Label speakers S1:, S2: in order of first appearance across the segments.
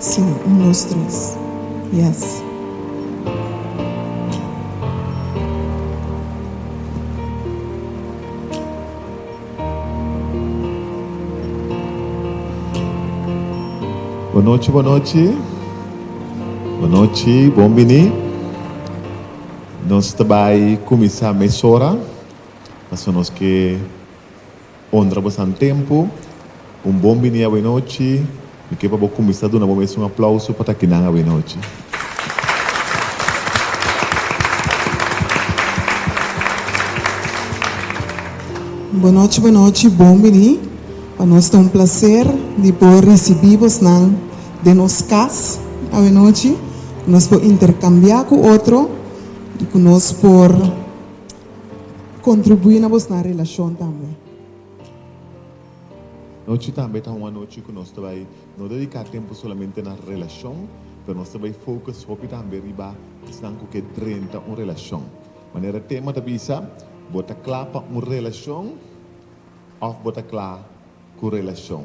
S1: Si, un dos tres, yes.
S2: Bon nochi bon nochi bon nochi bon bini nos ta bai cuminsa mesora pasobra nos ke. Honra a bosan tempu. Un bon bini awenochi. Mi ke pa bo kuminsá duna bo mes un aplauso pa takinan awenochi.
S1: Buenochi buenochi bon bini. Pa nos ta un plaser di por risibí bosnan den nos kas awenochi, ku nos por interkambiá ku otro i ku nos por. Kontribuí na bosnan relashon tambe.
S2: Nochi tambe ta un anochi ku nos ta bai no dediká tempu solamente na relashon, pero nos ta bai fokus hopi tambe riba esnan ku ke drenta un relashon. Manera tema ta bisa, Bo ta kla pa un relashon òf bo ta kla? ku relashon.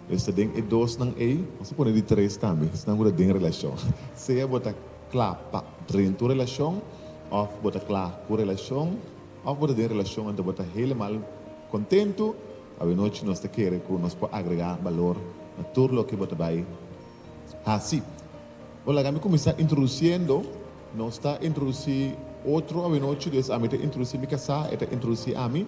S2: Nos ta den e dosnan ei, nos ta pone di tres tambe, esnan ku ta den relashon. Sea bo ta kla pa drentu relashon, òf bo ta kla ku relashon, òf bo ta den relashon anto bo ta helemal kontentu, awenochi nos ta kere ku nos por agregá balor na tur loke bo ta bai hasi. Bo laga mi kuminsá introdusiendo, nos ta introdusí otro awenochi, des ami ta introdusí mi kasá, e ta introdusí ami.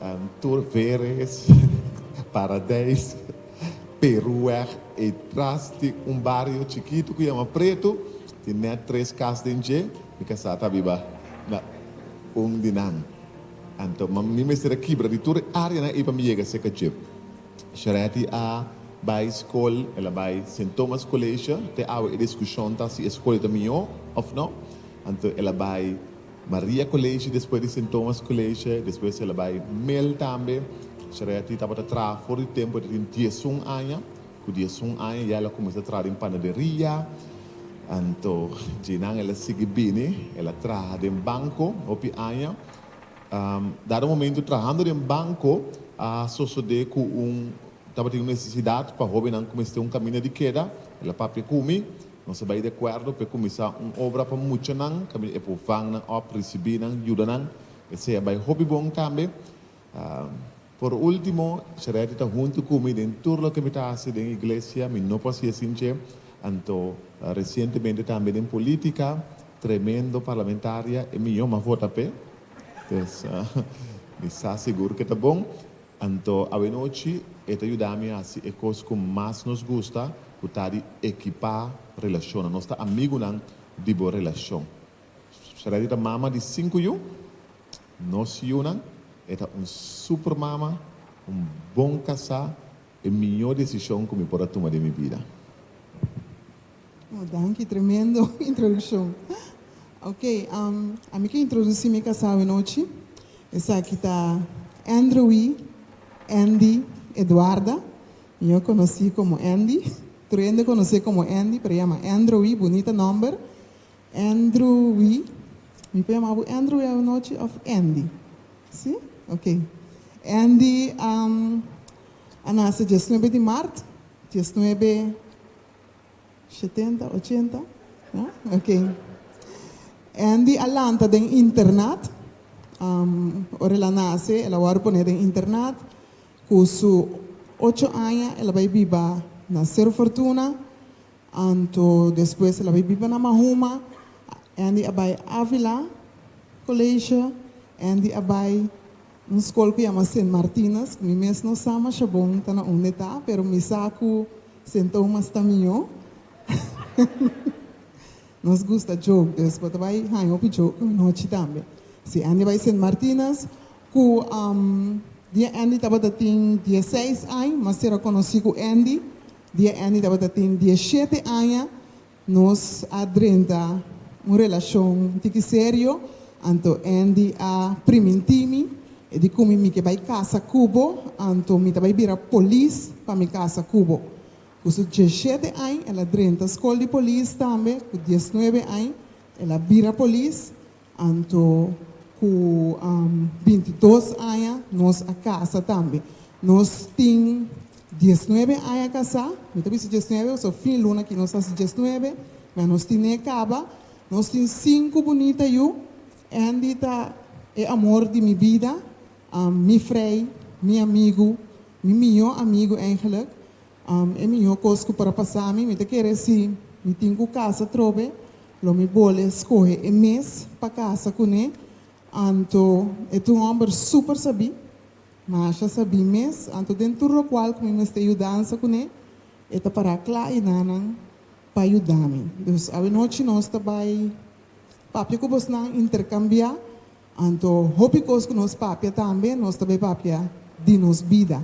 S2: N tur veres, Paradijs, Peruweg, e tras di un bario chikitu ku yama Pretu, tin nèt tres kas den dje. Mi kasá ta biba na un di nan. Anto mi mester a kibra di tur e áreanan ei pa mi yega serka dje. Shareti a bai skol, el a bai Sint Thomas College. Te awe e diskushon ta si e skol ei ta mihó òf no. Anto el a bai Maria College, despues di Sint Thomas College, despues el a bai Mel tambe. Shareti tabata traha for di tempo, el a tin diesun aña. Ku diesun aña ya el a kuminsá traha den panaderia. Anto dje nan el a sigui bini, el a traha den banko hopi aña. Dado momento trahando den banko a sosodé ku un tabatin un nesesidat pa hóbennan ku mester un kaminda di keda, el a papia ku mi. Nos a bai di akuerdo pa e kuminsá un obra pa muchanan, kaminda e por vang nan òf risibí nan yuda nan. Esei a bai hopi bon tambe. Por último, Charity ta huntu ku mi den tur loke mi ta hasi den iglesia. Mi no por hasi asin dje. Anto resientemente tambe den polítika, tremendo parlamentaria, e mió mi a vota p'e. Entonces, mi sa sigur ku e ta bon. Anto awenochi e ta yuda mi hasi e kos ku mas nos gusta, ku ta di ekipá relashonnan. Nos ta amigunan di bo relashon. Sharadi ta mama di sinku yu. Nos yunan, e ta un super mama, un bon kasá, e mihó desishon ku mi por a tuma den mi bida.
S1: Oh, danki, tremendo introdukshon. Ok, am, ami ke introdusí mi kasao e nochi. Esaki ta Andrewy Andy Eduarda, mió konosí komo Andy. Tur hende konos'é komo Andy, pero e yama Andrewy, bunita nòmber. Andrewy, mi por yama bo Andrewy awe nochi òf Andy? Sí? Ok. Andy, am, a nase diesnuebe di mart diesnuebe Shetenta, ochenta, ya? Oké. Andy a lanta den internat. Am, ora el a nase, el a wòrdu poné den internat. Ku su ocho aña el a bai biba na Sero Fortuna, anto despues el a bai biba na Mahuma. Andy a bai Avila Colegio, Andy a bai. Un skol ku yama Sint Martinus, ku mi mes no sa masha bon ta na unda e ta, pero mi sa ku Sint Thomas ta mihó. Nos gusta djok, dus bo ta bai haña hopi djok anochi tambe. Si Andy a bai Sint Martinus, ku dia Andy tabata tin dieseis aña, mas ser a konosí ku Andy, dia Andy tabata tin diesshete aña, Nos a drenta un relashon un tiki serio, anto Andy a primintí mi e di komo mi ke bai kasa ku bo, anto mi ta bai bira polis pa mi kasa ku bo. Ku su dieshete añ el a drenta skol di polis tambe, ku diesnuebe añ el a bira polis. Anto ku bintidos aña nos a kasa tambe. Nos tin diesnuebe aña kasá, mi ta bisa diesnuebe pasobra fin luna aki nos ta hasi diesnuebe, mea nos tin n'e kaba. Nos tin sinku bunita yu. Andy ta e amor di mi bida, mi Frei, mi amigu, mi mihó amigu, eigenlijk. E miho kos ku por a pasá mi, mi ta kere si mi tin ku kasa trobe, lo mi bole skohe e mes pa kasa kuné. Anto e ta un hòmber súper sabí. Masha sabí mes. Anto den tur lokual ku mi mester yudansa kuné, e ta pará kla i na nan pa yuda mi. Dus awanochi nos ta bai papia ku bosnan, interkambiá. Anto hopi kos ku nos papia tambe, nos ta bai papia di nos bida.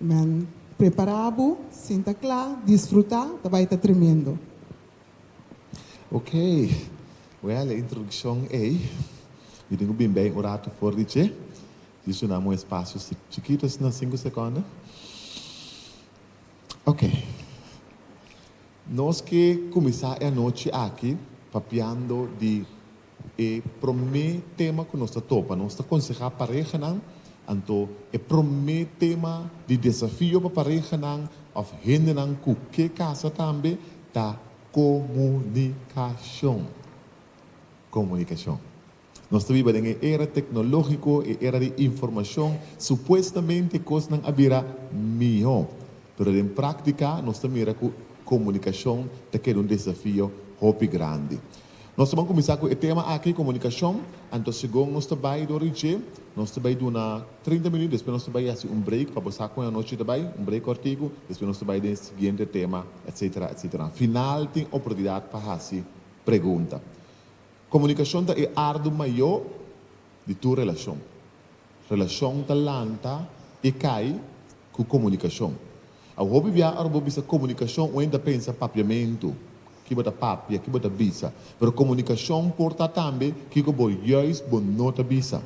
S1: Amen prepara bo sinta kla disfruta ta bai ta tremendo. Okey
S2: wea le introdukshon ey mi tin ku bin bay un ratu for di dje dje su nan un espasio chikitu asina sinku sekonda okey nos ke kuminsá e anochi aki papiando di E promé tema ku nos ta topa, nos ta konsehá parehanan, anto e promé tema di desafio pa parehanan òf hendenan ku ke kasa tambe ta komunikashon. Komunikashon. Nos ta biba den e era teknológiko, e era di informashon. Supuestamente kosnan a bira mihó, pero den práktika nos ta mira ku komunikashon ta keda un desafio hopi grandi. Nos ta ban kuminsá ku e tema aki, komunikashon, anto segun nos ta bai dor di dje, nos ta bai duna trinta minüt, despues nos ta bai hasi un break pa bo sa kon e anochi ta bai, un break kòrtiku, despues nos ta bai den e siguiente tema, etsetera, etsetera. Na final tin oportunidat pa hasi pregunta. Komunikashon ta e ardu mayó di tur relashon. Relacion ta lanta y cay cu comunicacion. Awe hopi bia ora bo bisa comunicacion un hende ta pensa papiamento, kibo ta papia, kibo ta bisa. Pero comunicacion por ta tambe kico bo juist bo no ta bisa.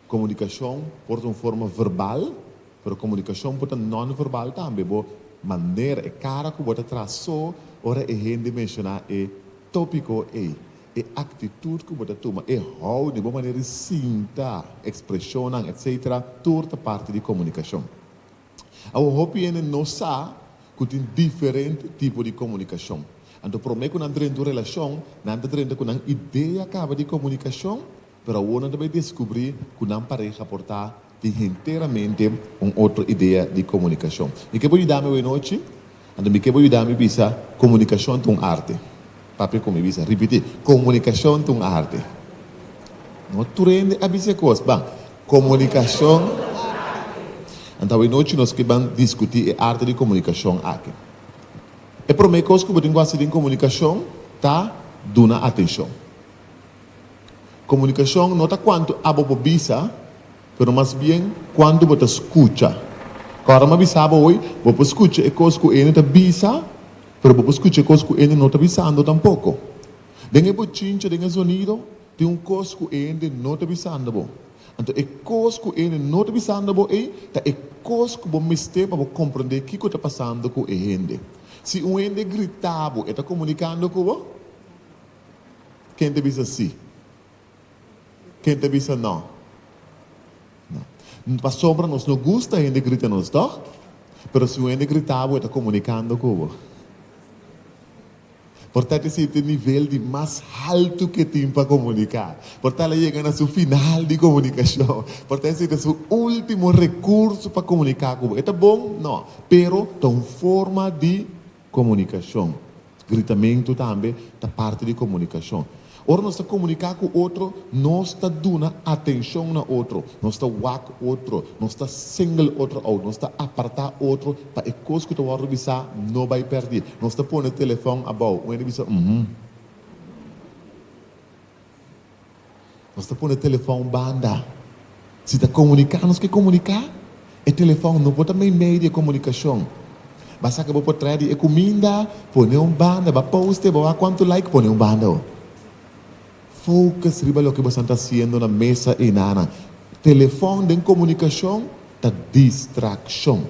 S2: Comunicacion por ta un forma verbal, pero comunicacion por ta non-verbal tambe, bo manera, e cara cu bo ta traso ora e hende menciona e topico ey, E aktitut ku bo ta tuma, e houding, bo manera di sinta, ekspreshonnan, etc. Tur ta parti di komunikashon. Awo hopi hende no sa ku tin diferente tipo di komunikashon. Anto promé ku nan drenta un relashon, nan ta drenta ku nan idea kaba di komunikashon, pero awo nan ta bai deskubrí ku nan pareha por ta. tin henteramente un otro idea di comunicacion. Mi ke bo yuda mi awey nochi? Anto mi ke bo yuda mi bisa, comunicacion ta un arte. Papia con mi bisa, ripiti, comunicacion ta un arte. No tur hende a bisa e cos. Bam, comunicacion ta un arte. Anto awey nochi nos ke ban discuti e arte di comunicacion aki. E prome cos cu bo tin cu haci den comunicacion ta duna atencion. Komunikashon no ta kuantu abo por bisa, pero mas bien kuantu bo ta skucha. Kòrda mi a bisa bo hoy, bo por skucha e kos ku ene ta bisa, pero bo por skucha e kos ku ene no ta bisando tampoko. Den e bochincha, den e zonido, tin un kos ku e hende no ta bisando bo. Anto e kos ku e hende no ta bisando bo ei ta e kos ku bo mester pa bo komprondé kiko ta pasando ku e hende. Si un hende grita bo, e ta komunikando ku bo? Ken ta bisa sí? Ken ta bisa no? No. Pasobra nos no gusta hende grita nos, tòg? Pero si un hende grita bo, e ta komunikando ku bo. Por tal esei ta e nivel di mas haltu ku e tin pa komuniká. Por tal e yega na su final di komunikashon. Por tal esei ta su último rekurso pa komuniká ku bo. E ta bon? No. Pero ta un forma di Komunikashon. Gritamentu tambe ta parti di komunikashon. Ora nos ta komuniká ku otro, nos ta duna atenshon na otro, nos ta wak otro, nos ta single otro out, nos ta apartá otro pa e kos ku ta wòrdu bisá no bai pèrdí, nos ta pone telefòn abou, un hende bisa, Uhmm. Nos ta pone telefòn banda. Si ta komuniká nos ke komuniká, e telefòn no por ta mei medio di komunikashon. Ba saka bo por traha di e kuminda, pone un banda, ba poste, bo a kuantu like, pone un banda. Focus riba loke bosan ta hasiendo na mesa i nana. Telefòn den komunikashon ta distrakshon.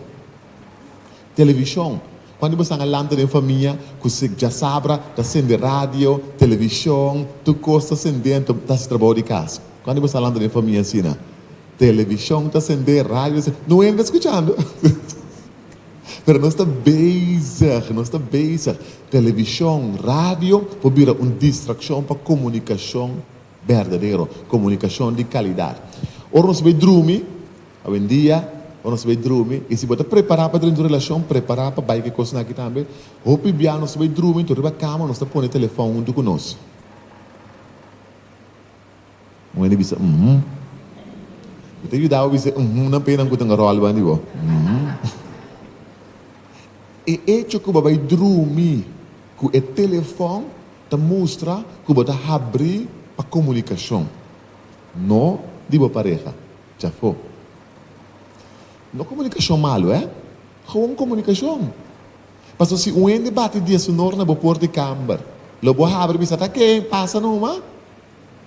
S2: Televishon, Cuandu bo sanga lanta den famia cu si djasabra ta sende radio, televishon, tur cos ta sende ento ta haci trabao di casa. Cuandu bo sa lanta den famia asina, televishon ta sende, radio ta sende, no enta scuchando pero nos ta bezig, nos ta bezig. Televishon, radio por bira un distraccion pa comunicacion berdadero, comunicacion di calidad. Ora nos bai drumi. Awendia, bo nos bai drumi, i si bo ta prepará pa drenta un relashon, prepará pa bai ke kosnan akí tambe, Hopi bia nos ta bai drumi, tur riba kama nos ta pone telefòn huntu ku nos. Un hende bisa, Uhum. Mi ta yuda bo bisa uhumnan pa enan ku ta ngaròlba di bo. Uhum. E echo ku bo bai drumi ku e telefòn ta mustra ku bo ta habrí pa komunikashon, no di bo pareha. Chafó. No comunicacion malo, eh? Gewoon comunicacion. Paso si un hende bati dieshonor na bo poort di camber, lo bo a habri bisa ta ke pasa numa?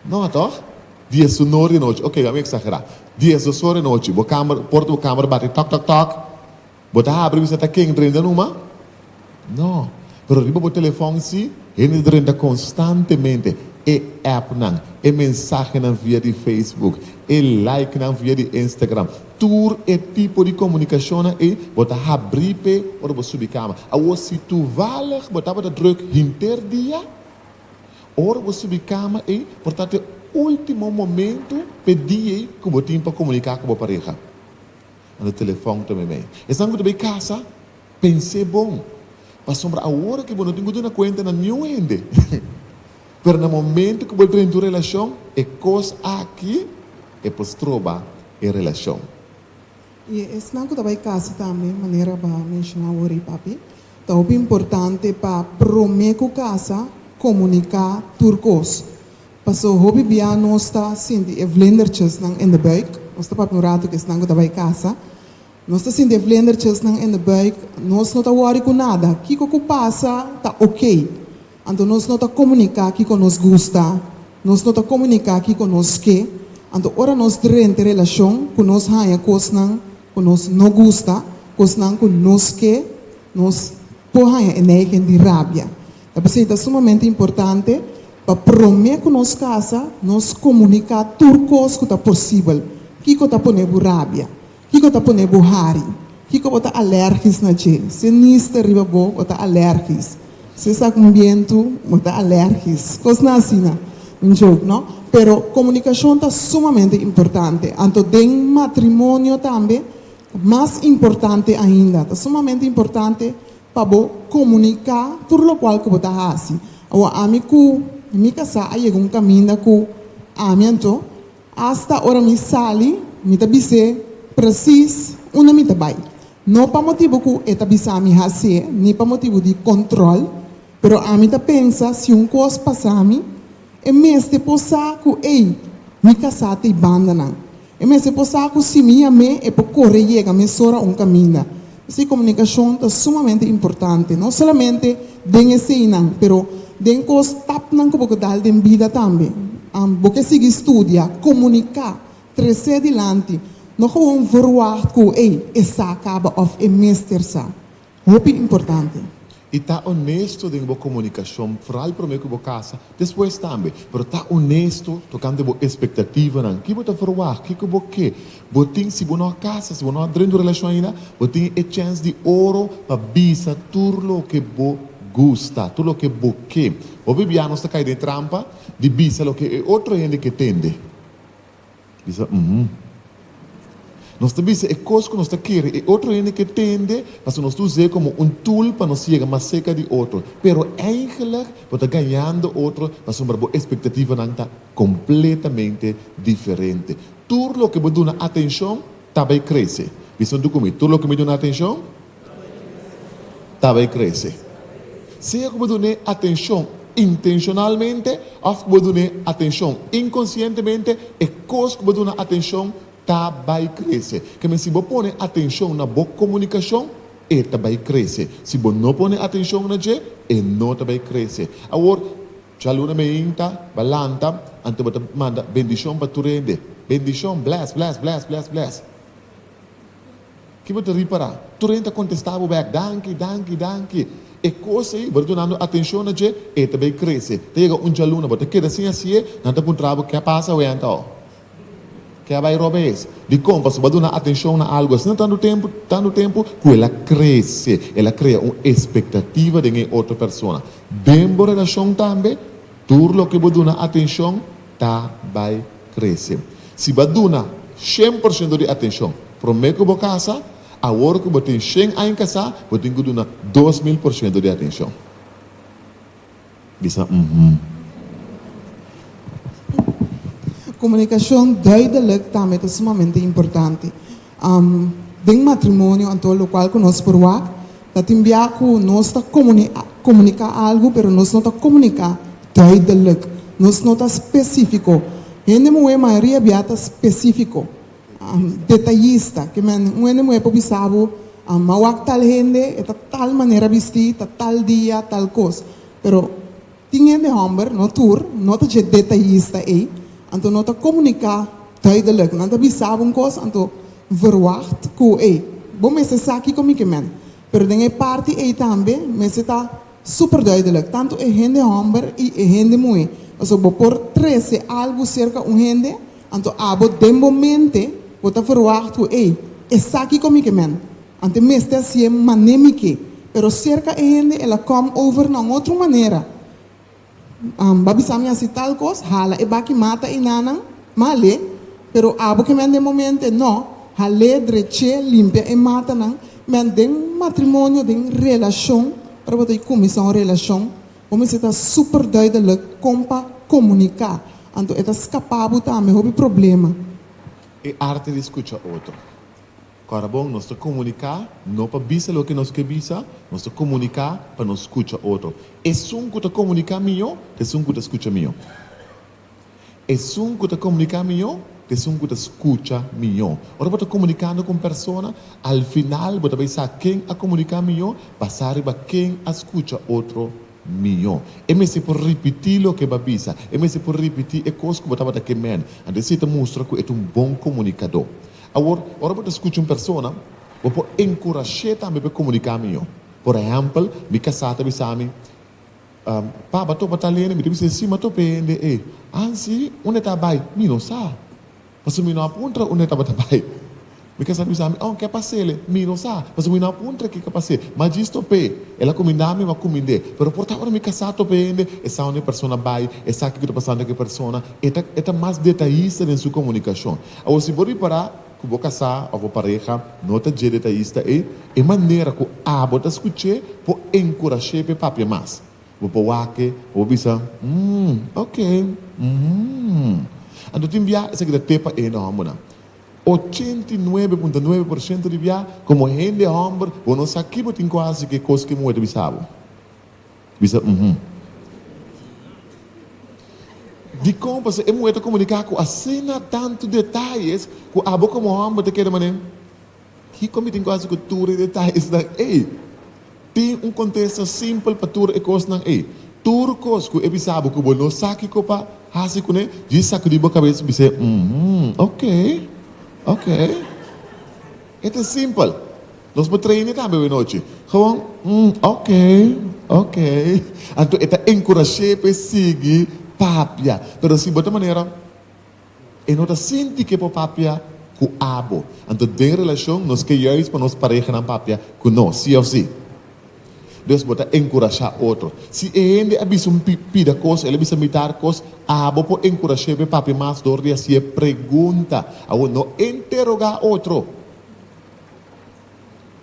S2: No, toch? Dieshonor di nochi, ok, a mi exagera. Dieshosor di nochi, bo camber, poort di bo camber bati, tok, tok, tok. Bo ta habri bisa ta ken renta numa? No. Pero riba bo telefòn sí, hende ta renta konstantemente. E èpnan, e mensahenan via di Facebook, e likenan via di Instagram, tur e tipo di komunikashonnan ei bo ta habri p'e ora bo subi kama. Awor si tuvallig bo tabata drùk hinter dia, ora bo subi kama ei por tabata e último momentu p'e dia ei ku bo tin pa komuniká ku bo pareha. Manda telefòn ta mi mei. Esnan ku ta bay kasa, pens'é bon, pasobra awor aki bo no tin ku duna kuenta na niun hende. Pero na momentu ku bo drenta un relashon, e kos aki e por stroba e relashon. I
S1: esnan ku ta bay kasa tambe, manera bo a menshoná awor ei, papi, ta hopi importante pa promé ku kasa komuniká tur kos. Paso hopi bia nos ta sinti e vlendertjesnan in de buik. Nos ta papia un rato ku esnan ku ta bai kasa. Nos ta sinti e vlendertjesnan in de buik. Nos no ta wòri ku nada. Kiko ku pasa ta oké. Anto nos no ta komuniká kiko nos gusta. Nos no ta komuniká kiko nos ke. Anto ora nos drenta e relashon ku nos haña kosnan ku nos no gusta, kosnan ku nos ke, nos. Por haña e neigen di rabia. Ta p'esei ta sumamente importante pa promé ku nos kasa nos komuniká tur kos ku ta posibel. Kiko ta pone bo rabia? Kiko ta pone bo hari? Kiko bo ta alèrgis na dje? Si e nis ta riba bo, bo ta alèrgis. Si e sa ku un bientu, bo ta alèrgis. Kosnan asina. Un joke, no? Pero komunikashon ta sumamente importante. Anto den matrimonio tambe Mas importante ainda, ta sumamente importante pa bo comunica tur locual cu bo ta haci. Awor, ami cu mi casá a yega un caminda cu ami anto, hasta ora mi sali, mi ta bis'é precies unda mi ta bai. No pa motibu cu e ta bisa mi hac'é, ni pa motibu di control, pero ami ta pensa si un cos pasami, E mester por sa ku ey, mi ka sa t'ey bandanan. E mester por sa ku si mi yam'é, e por kore yega mesora un kaminda. P'esei komunikashon ta sumamente importante, no solamente den eseinan, pero den kos tapnan ku bo ke dal den bida tambe. Bo ke sigui studia, komuniká, tres'é dilanti, no gewoon verwagt ku ey, e sa kaba òf e mester sa. Hopi importante i ta
S2: onesto den bo komunikashon, foral promé ku bo kasa, despues tambe. Pero ta onesto tokante bo espektativanan, ki bo ta ferwagt, kiko bo ke. Bo tin, si bo no a kasa, si bo no a drenta un relashon ainda, bo tin e chèns di oro pa bisa tur loke bo gusta, tur loke bo ke. Hopi bia nos ta kai den e trampa di bisa loke e otro hende ke tende. Bisa, Uum. Nos ta bisa e kos ku nos ta kere e otro hende ke tende, pasobra nos ta us'é komo un tool pa nos yega mas serka di otro. Pero eingelik bo ta gañando otro pasobra bo ekspektativanan ta kompletamente diferente. Tur loke bo duna atenshon ta bai krese. Bisa un dukume, Tur loke mi duna atenshon Ta bay crece. Sea cu bo dun'e atencion intencionalmente of bo dun'e atencion inconscientemente, e cos cu bo duna atencion ta bay crece. Ke men si bo pone atencion na bo comunicacion, e ta bay crece. Si bo no pone atencion na dje, e no ta bay crece. Awor, dja luna meinta, ba lanta, anto bo ta manda bendicion pa tur hende. Bendicion, bless, bless, bless, bless, bless. Ki bo ta ripará? Tur hende a kontestá bo bèk, Danki, danki, danki. E kos ei, bo ta dunando atenshon na dje, e ta bai krese. Ta yega un djalun nan bo ta keda sin hasié, nan ta puntrá bo, Ke a pasa awe anta aho? Ke a bai roba es? Dikon? Pasobra bo a duna atenshon na algu asina tantu tempu, tantu tempu, ku el a krese. El a krea un espektativa den e otro persona. Den bo relashon tambe, tur loke bo duna atenshon, ta bai krese. Si bo a duna shen por shento di atenshon promé ku bo kasa, awor ku bo tin shen aña kasá bo tin ku duna dos mil por shento di atenshon. Bisa Mh.
S1: Komunikashon duidelik tambe ta sumamente importante. Den matrimonio anto locual cu nos por wak ta tin bia cu nos ta comunica algu pero nos no ta comunica duidelijk, nos no ta specifico. Hende muhe mayoria bia ta specifico, detallista, ke men un hende muhe por bisa bo a wak tal hende e ta tal manera bisti, ta tal dia tal cos pero Tin hende hòmber, no tur, no ta dje detayista ei, anto no ta komuniká duidelijk. Nan ta bisá bo un kos, anto verwagt ku, ei, bo mester sa kiko mi ke mèn. Pero den e parti ei tambe mester ta super duidelijk, tantu e hende hòmber i e hende muhé. Pasobra bo por trese algu serka un hende, anto abo den bo mente bo ta verwagt ku, ei, esaki kon mi ke mèn. Ante mester a sié mané mi ke, pero serka e hende el a kòm over na un otro manera. Am ba bisa mi hasi tal kos, hala e baki mata i nanan, male. Pero abo ke mi an den momente, nò, hal'é, drech'é, limpia e matanan. Mi an den matrimonio, den relashon, ora bo ta di kuminsá un relashon, bo mester ta super duideluk kon pa komuniká, anto e ta skapá bo tambe hopi problema. E
S2: arte di skucha otro. Kòrda bon, nos ta komuniká no pa bisa loke nos ke bisa, nos ta komuniká pa nos skucha otro. Esun ku ta komuniká mihó ta esun ku ta skucha mihó. Esun ku ta komuniká mihó ta esun ku ta skucha mihó. Ora bo ta komunikando ku un persona, al final bo ta bai sa ken a komuniká mihó basá riba ken a skucha otro mihó. E mester por ripití loke e bo a bisa. E mester por ripití e kos ku bo tabata ke mende. Anto esei ta mustra ku e ta un bon komunikadó. Awor, ora bo ta skucha un persona, bo por enkurash'é tambe pa e komuniká mihó. Por ehèmpel, mi kasá ta bisa mi, Pa, b'a topa tal hende? Mi ta bis'é, Sí, m'a topa e hende ei. An sí? Unda e ta bai? Mi no sa, pasobra mi no a puntra unda e tabata bai. Mi kasá ta bisa mi, Oh, ke a pas'ele? Mi no sa, pasobra mi no a puntra ke k'e pas'é. M'a djis topa e. El a kumindá mi, m'a kumind'é. Pero por ta ora mi kasá topa e hende, e sa unda e persona bai, e sa kiko ta pasando ku e persona, e ta mas detayista den su komunikashon. Awor si bo ripará ku bo kasá òf bo pareha no ta dje detayista, e e manera ku abo ta skuch'é por enkurash'é p'e papia mas. Bo por wak-e pa bo bisa, Umm, oke, umm. Anto tin bia esaki ta tep pa e hende hòmbernan. Ochenta i nuebe punto nuebe por shento di bia, komo hende hòmber, bo no sa ki bo tin ku hasi ku e kos ku e muhé ta bisa bo. Bisa, Uhumm. Dikon pasobra e muhé ta komuniká ku asina tantu detayes ku abo komo hòmber ta keda manera? Dikon mi tin ku hasi ku tur e detayesnan ei? Tin un kontesta simpel pa tur e kosnan ei. Tur kos ku e bisa bo ku bo no sa kiko pa hasi kuné, djis sakudí bo kabes bis'é, Uhumm, ok. Ok. E ta simpel. Nos por trae mi tambe awe nochi. Gewoon, Umm, ok, ok. Anto e ta encourash'é p'e sigui papia. Pero si bo ta manera e no ta sinti k'e por papia cu abo. Anto den relacion nos ke juist pa nos parehanan papia cu nos, si of si? Des bo ta encourashá otro. Si e hende a bisa mi pida cos, el a bisa mi dar cos, abo por encourash'é p'e papia mas dor di haci'é pregunta. Awor no enterogá otro.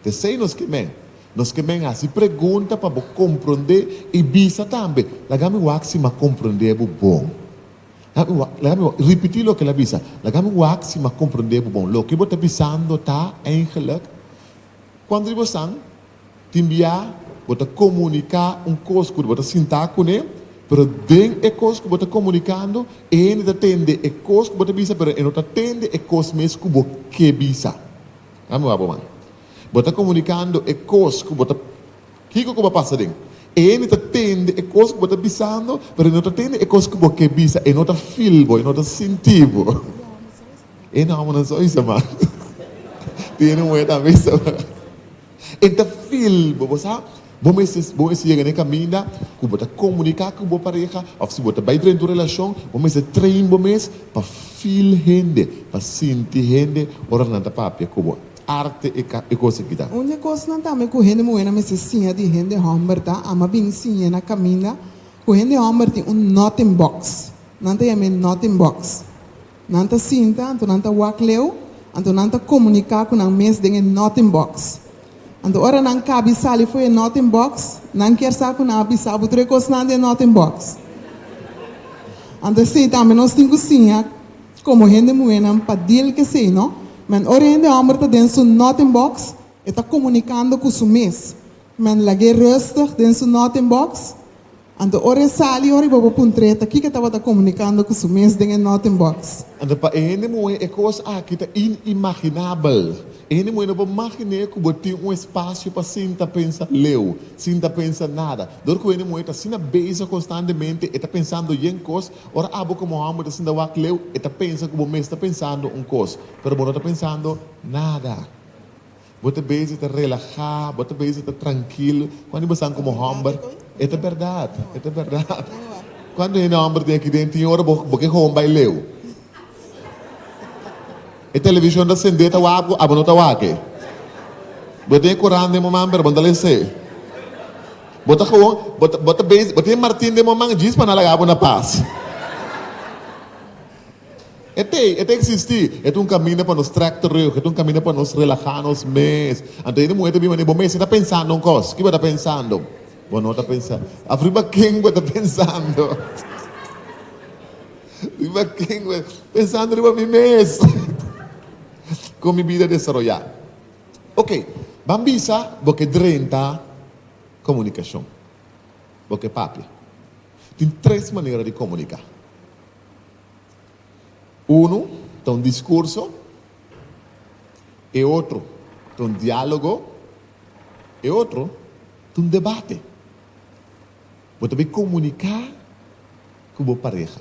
S2: P'esei nos ke men. Nos ke men hasi pregunta pa bo komprondé i bisa tambe. Laga mi wak si m'a komprondé bo bon. Laga mi wak, laga mi wak ripití loke el a bisa. Laga mi wak si m'a komprondé bo bon. Loke bo ta bisando ta, eindelijk, Cuando riba san, Tin bia bo ta komuniká un kos ku bo ta sintá kuné, pero den e kos ku bo ta komunikando, e hende ta tende e kos ku bo ta bisa, pero e no ta tende e kos mes ku bo ke bisa. Nan mi wak bo man. Bo ta komunikando e kos ku bo ta. Kiko ku bo a pasa den? E hende ta tende e kos ku bo ta bisando, pero e no ta tende e kos ku bo ke bisa. E no ta feel bo, e no ta sinti bo. E namo nan sa bisa man. Tiene un wet a bisa man. E ta fil bo, bo sa. Bo mester, bo mester yega na e kaminda ku bo ta komunika ku bo pareha òf si bo ta bai drenta un relashon, bo mester train bo mes pa fil hende, pa sinti hende ora nan ta papia ku bo. Arte e ka, e kos aki ta. Un di e kosnan tambe ku
S1: hende muhénan mester siña di hende hòmber ta, a mas bini siña na kaminda ku hende hòmber tin un nothing box. Nan ta yam'é nothing box. Nan ta sinta, anto nan ta wak leu, anto nan ta komuniká ku nan mes den e nothing box. Anto ora nan kabi sali fo'i e nothing box, nan kier sa ku nan a bisa bo tur e kosnan den e nothing box. Anto esei tambe nos tin ku siña komo hende muhénan pa dil k'esei, no? Men ora e hende hòmber ta den su nothing box, e ta komunikando ku su mes. Men lag'é rustig den su nothing box. Anto ora e sali, ora e bobo ku un treta, kiko e tabata komunikando ku su mes den e noten box? Anto pa e hende muhe
S2: e kos aki ta inimaginabel. E hende muhe no por maginé ku bo tin un espasio pa sinta pensa leu, sinta pensa nada. Dor ku hende muhe ta asina bezig konstantemente, e ta pensando yen kos. Ora abo komo homi ta sinta wak leu, e ta pensa ku bo mes ta pensando un kos, pero bo no ta pensando nada. Bo ta bezig ta relahá, bo ta bezig ta trankil cuando i basan como homber. E ta berdad, e ta berdad. Cuanto hende homber tin aki den? Tin ora bo bo ke hoon bai leu. E television ta sendé ta wak bo, abo no ta wak e. Bo tin e coran den bo man pero bo no ta lesé. Bo ta gewoon bo ta bo ta bezig bo tin e martin den bo man djis pa nan laga bo na pas. E ta ei, e ta existi. E ta un caminda pa nos trek terug, e ta un caminda pa nos relaha nos mes. Anto ene muhe ta bin mane, Bo mester ta pensando un cos. Ki bo ta pensando? Bo no ta pensando. Af riba ken bo ta pensando? Riba ken bo ta pensando? Riba mi mes. Con mi bida desaroya. Ok, ban bisa bo ke drenta comunicacion. Bo ke papia. Tin tres manera di comunica. Unu ta un discurso, e otro ta un dialogo, e otro ta un debate. Bo ta bin comunica cu bo pareha.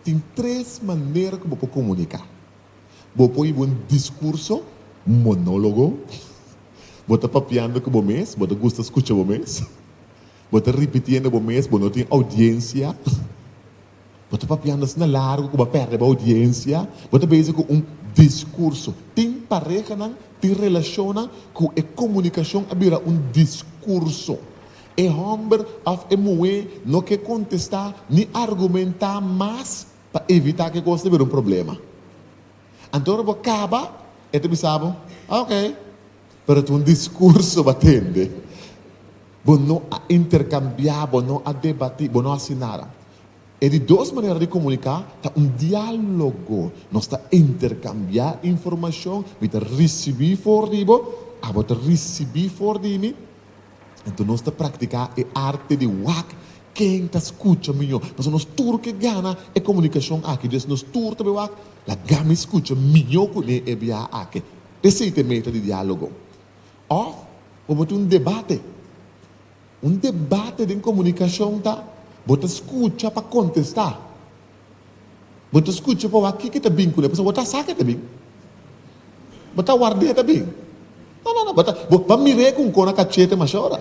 S2: Tin tres manera cu bo por comunica. Bo por hiba un discurso, un monologo, bo ta papiando cu bo mes, bo ta gusta scucha bo mes, bo ta ripitiendo bo mes, bo no tin audiencia. Bo ta papiando asina largu ku bo a pèrdè bo audiencia. Bo ta bezi ku un diskurso. Tin parehanan, tin relashonnan ku e komunikashon a bira un diskurso. E hòmber òf e muhé no ke kontestá ni argumentá mas pa evitá ku e kos ta bira un problema. Anto ora bo kaba, e ta bisa bo, Oké, pero ta un diskurso bo a tende. Bo no a interkambiá, bo no a debatí, bo no a hasi nada. E di dos manera di komuniká ta un diálogo. Nos ta interkambiá informashon, mi ta risibí for di bo, abo ta risibí for di mi. Anto nos ta praktiká e arte di wak ken ta skucha mihó. Pasobra nos tur ke gana e komunikashon akí, dus nos tur ta bai wak laga mi skucha mihó kuné e biaha akí. Esei ta e meta di diálogo. Òf abo ta un debate. Un debate den komunikashon ta bo ta skucha pa kontestá. Bo ta skucha pa wak kiko ta bin ku el, pasobra bo ta sa ke ta bin. Bo ta warda e ta bin. No, no, no, bo ta, bo ta mira e ku un kona kaché te masha ora.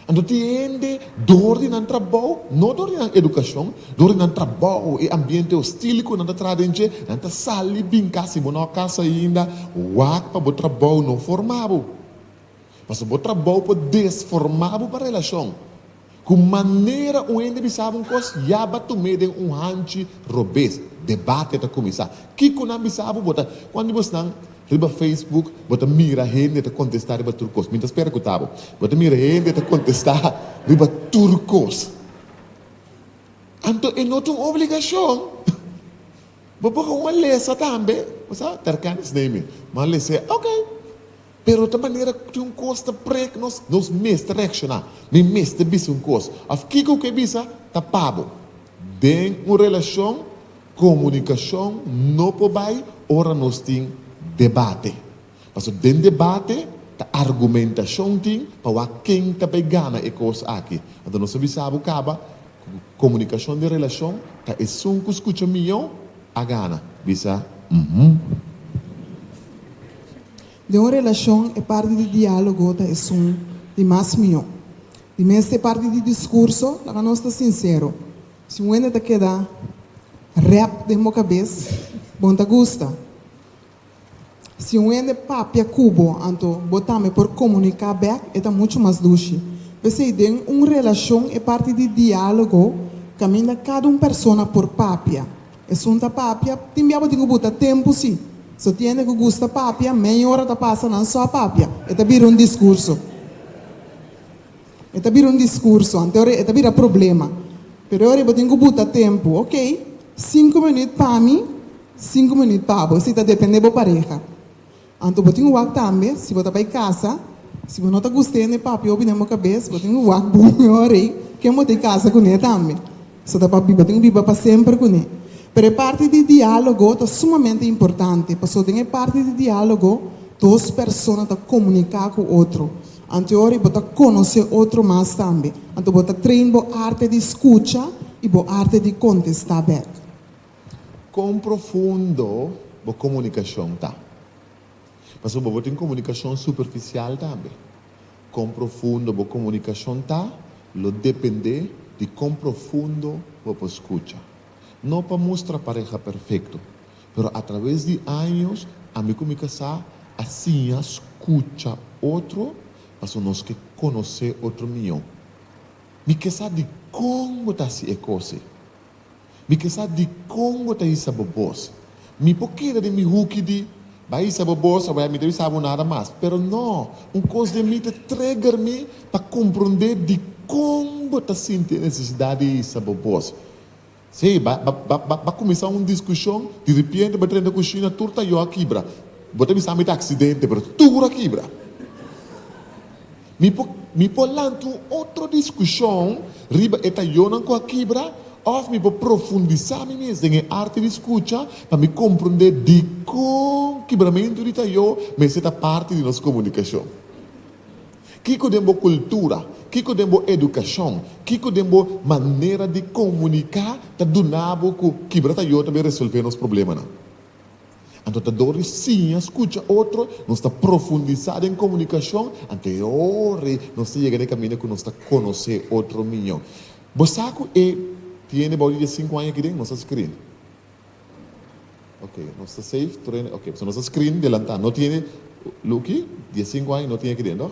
S2: Anto tin hende dor di nan trabou, no dor di nan edukashon, dor di nan trabou, e ambiente hostil ku nan ta traha den dje, nan ta sali binka si bo no a kas ainda, wak pa bo trabou no forma bo. Pasobra bo trabou por desforma bo pa relashon. Ku manera un hende bisa bo un kos, ya ba tum'é den un hanchi robes. Debate ta kuminsá. Kiko nan bisa bo? Bo ta, kuantu bo snan. Riba Facebook bo ta mira hende ta kontestá riba tur kos. Mi ta spera ku ta bo. Bo ta mira hende ta kontestá riba tur kos. Anto e no ta un obligashon. Bo por unda lesa tambe. Bo sa, Terkana snei mi. Bo a les'é. Oke. Pero ta manera ku tin un kos ta prek nos, nos mester reakshoná. Mi mester bisa un kos. Òf kiko ku e bisa ta pa bo. Den un relashon. Comunicacion no por bay ora nos tin debate. Pasobra den debate ta argumentacion tin pa wak ken ta bay gana e cos aki. Anto nos ta bisa bo caba cu comunicacion den relacion ta esun cu scucha miyo a gana bisa uhmm.
S1: Den un relacion e parti di dialogo ta esun di mas miyo. Di mester e parti di discurso laga nos ta sincero. Si un hende ta keda rep den bo kabes, bon ta gusta. Si un hende papia ku bo, anto bo tambe por komuniká bèk, e ta muchu mas dushi. P'esei den un relashon e parti di diálogo kaminda kada un persona por papia. Esun ta papia, tin bia bo tin ku buta tempu si. So tin hende ku gusta papia, meia ora ta pasa nan só papia, e ta bira un diskurso. E ta bira un discurso, ante ora e ta bira problema. Pero e ora bo tin cu buta tempo, ok, cinco minuut pa mi, cinco minuut pa bo, si ta depende bo pareha. Anto bo tin cu wak tambe, si bo ta bay casa, si bo no ta gusta hende papia hopi den bo cabez, bo tin cu wak, boe ora ey, ken bo ta y casa cune tambe? So ta pa biba, tin biba pa semper kuné. Pero e parti di diálogo ta sumamente importante, paso den e parti di diálogo dos persona ta komuniká ku otro. Anto ora i bo ta konosé otro mas tambe. Anto bo ta train bo arte di skucha i bo arte di kontestá bèk.
S2: Kon profundo bo komunikashon ta? Pasobra bo bo tin komunikashon superfisial tambe. Kon profundo bo komunikashon ta lo dependé di kon profundo bo por skucha. No pa mustra pareha perfekto, pero atraves di años ami ku mi kasá a siña skucha otro pasobra nos ke konosé otro mihó. Mi ke sa dikon bo ta hasi e kos ei. Mi ke sa dikon bo ta hisa bo bos. Mi por keda den mi huki di, Bai hisa bo bos, awor mi ta bisa bo nada mas. Pero no, un kos den mi ta trigger mi pa komprondé dikon bo ta sinti e nesesidat di hisa bo bos. Sí, ba kuminsá un diskushon, di ripiente bo ta drenta kushina, tur tayó a kibra. Bo ta bisa mi ta aksidente, pero tur a kibra. Mi por lanta un otro diskushon riba e tayonan ku a kibra òf mi por profundisá mi mes den e arte di skucha pa mi komprondé dikon kibramentu di tayó mester ta parti di nos komunikashon. Kiko den bo kultura, kiko den bo edukashon, kiko den bo manera di komuniká ta duna bo ku kibra tayó ta bin resolvé nos problemanan? Anto ta dor di siña skucha otro, nos ta profundisá den komunikashon, anto e ora ei nos ta yega na e kaminda ku nos ta konosé otro mió. Bo sa ku e tiene bou di dia sinku aña akiden nos ta skrin. Oke, nos ta save tur e, oke, nos ta skrin delantá, no tiene lo ki, dia sinku aña no tin akiden tòg.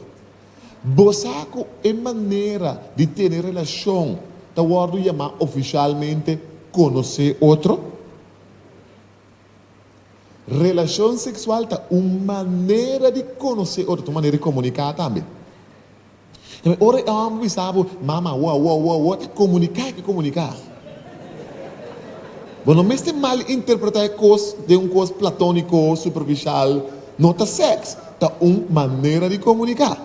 S2: Bo sa ku e manera di tene relashon ta wòrdu yamá ofishalmente konosé otro? Relacion sexual ta un manera di conoce otro, ta un manera di comunica tambe. Enbe ora e homber bisa bo, Mama, wo, wo, wo, wo, ta comunica e ke comunica. Bo no mester mal interpreta e cos den un cos platonico, superficial, no ta sex, ta un manera di comunica.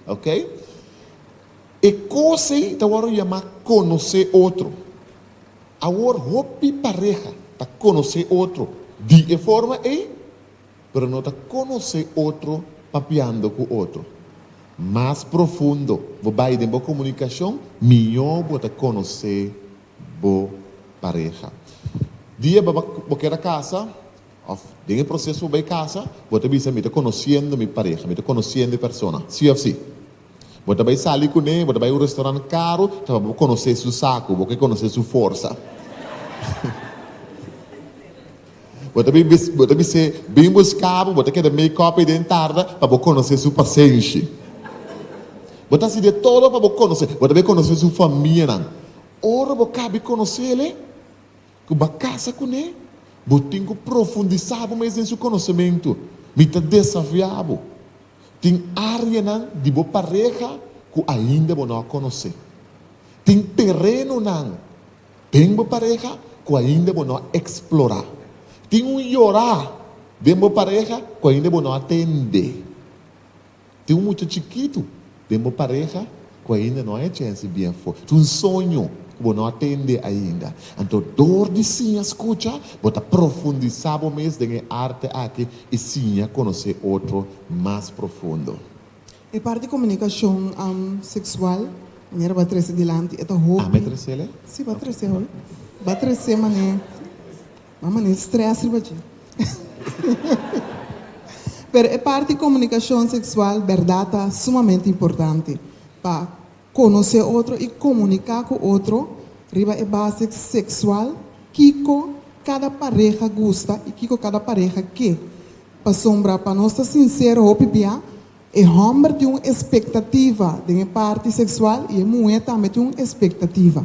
S2: Ok? E cos ey ta worde yama conoce otro. Awor hopi pareha ta conoce otro di e forma ey, pero no ta conoce otro papiando cu otro. Mas profundo bo bay den bo comunicacion, miyo bo ta conoce bo pareha. Diabe bo ker a casa, of den e proceso bo bay casa, bo ta bisa, mi ta conociendo mi pareha, mi ta conociendo e persona, si of si? Bo ta bai sali kuné, bo ta bai un restaurant karu ta pa bo konosé su saku, bo ke konosé su forsa. Bo ta bai bo ta bis'é bin buskabo, bo ta keda make up ei den tarda pa bo konosé su pasenshi. Bo ta hasi di todo pa bo konosé, bo ta bai konosé su famianan. Ora bo kabi konosé el'e. Cu bo a casa cu ne, bo tin cu profundisa bo mes den su conocemento. Mi ta desafia bo. Tin areanan di bo pareha cu ainda bo no a conoce. Tin terenonan den bo pareha cu ainda bo no a explora. Tin un yora den bo pareha cu ainda bo no a tende. Tin un mucha chikitu den bo pareha ku ainda no a hecha hensi bien for. Tin un soño ku bo no a tende ainda. Anto dor di siña skucha, bo ta profundisá bo mes den e arte akí i siña konosé otro mas profundo. E parti
S1: komunikashon seksual, manera bo a trese dilanti, e ta hopi. Ame tresel e? Si,
S2: bo a tresé hoy.
S1: Bo a tresé manera Nan mane stress riba dje. Pero e parti comunicacion sexual berdad ta sumamente importante pa conoce otro y comunica cu otro riba e base sexual kico cada pareha gusta y kico cada pareha ke. Pasobra pa nos ta sincero hopi bia E hòmber tin un espektativa den e parti seksual i e muhé tambe tin un espektativa.